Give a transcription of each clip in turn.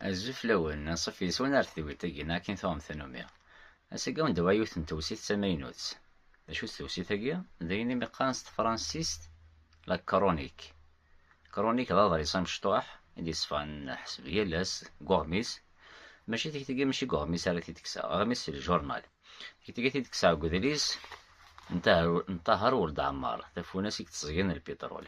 Azul fell-awen, anṣuf yes-wen ar tedwilt-agi neɣ akin tuɣem tannumi. Ass-agi awen-d awɛa yiwet n tewsit d tamaynut. D acu-tt tewsit-agi? D ayen imi qqaren s tefransist la chronique. Chronique d aḍris amecṭuḥ i d-yesfɣen ḥseb yal ass deg uɣmis. Mačči tikti-agi mačči deg uɣmis ara t-id-kkseɣ, aɣmis c'est le journal. Tikti-agi t-id-kkseɣ deg udlis n Ṭaher Weld Ɛemmar, tafunast i yettẓeggen lpiṭrul.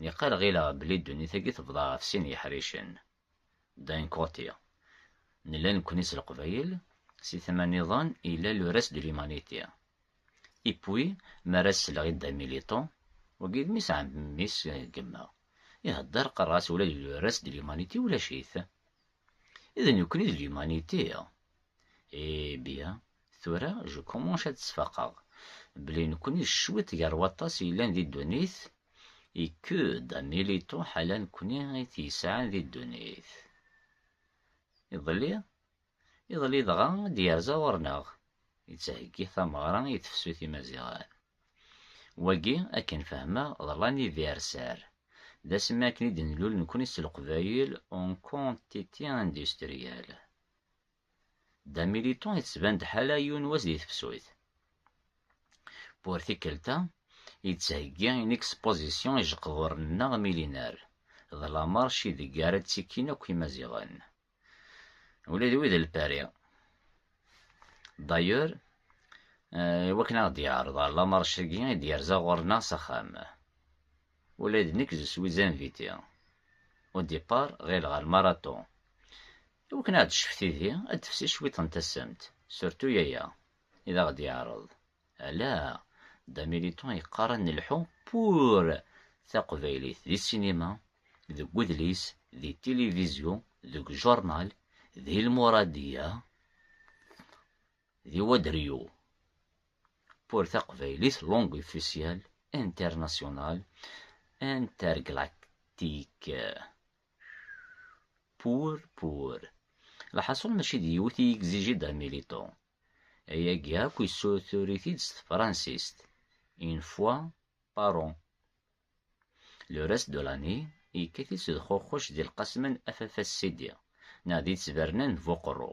Niqal ɣileɣ belli ddunit-agi tebḍa ɣef sin yeḥricen, d'un côté, nella nekkni s Leqbayel, si tama niḍen yella le reste de l'humanité. Et puis, mi ara as-selleɣ i dda Militon, wagi d mmi-s ɛemmi mmi-s gemmeɣ, ihedder qqareɣ-as ula d le reste de l'humanité ulac-it. D nekkni d l'humanité. Eh bien, Tura, je commence ad sfaqeɣ belli nekkni cwiṭ gar waṭas yellan di ddunit et que da militu ḥala nekkni i t-yesɛan di ddunit. Iḍelli, iḍelli dɣa i d-yerza ɣur-neɣ, yettheggi tameɣra i tefsut imaziɣen. Wagi, akken fehmeɣ, d l'anniversaire, d asmi akken i d-nlul nekkni s leqbayel en quantité industrielle. Dda Militon yettban-d ḥala yiwen wass di tefsut. Pour tikkelt-a, yettheggi une exposition ijeqduren-nneɣ millénaire, d lamarche ideg ara ttikkin akk Imaziɣen, ula d wid n Lpari. D'ailleurs, iwakken ad aɣ-d-yeɛreḍ ɣer lamarche-agi i d-yerza ɣur-neɣ s axxam, ula d nekk je suis invité. Au départ, ɣileɣ ɣer marathon, I wakken ad aɣ-d-tecf tidi, ad d-tefsi cwiṭ n tasemt, surtout aya i d aɣ-d-yeɛreḍ ala Dda Militon yeqqar ad nelḥu pour taqbaylit di sinima, deg wedlis, di tilivizyu, deg journal, d ilmuradiya, di wadryu. Pour taqbaylit langue officielle, internationale, interglactique. Pour, pour. Lḥaṣul mačči d yiwet i yegziji Dda Miliṭu. Ayagi akk yessutur-it-id s tefransist, une fois par an. Le reste de l'année, yekkat-itt d xuxuc di lqasma n Afafas Sidi, neɣ di ttberna n Buqerru.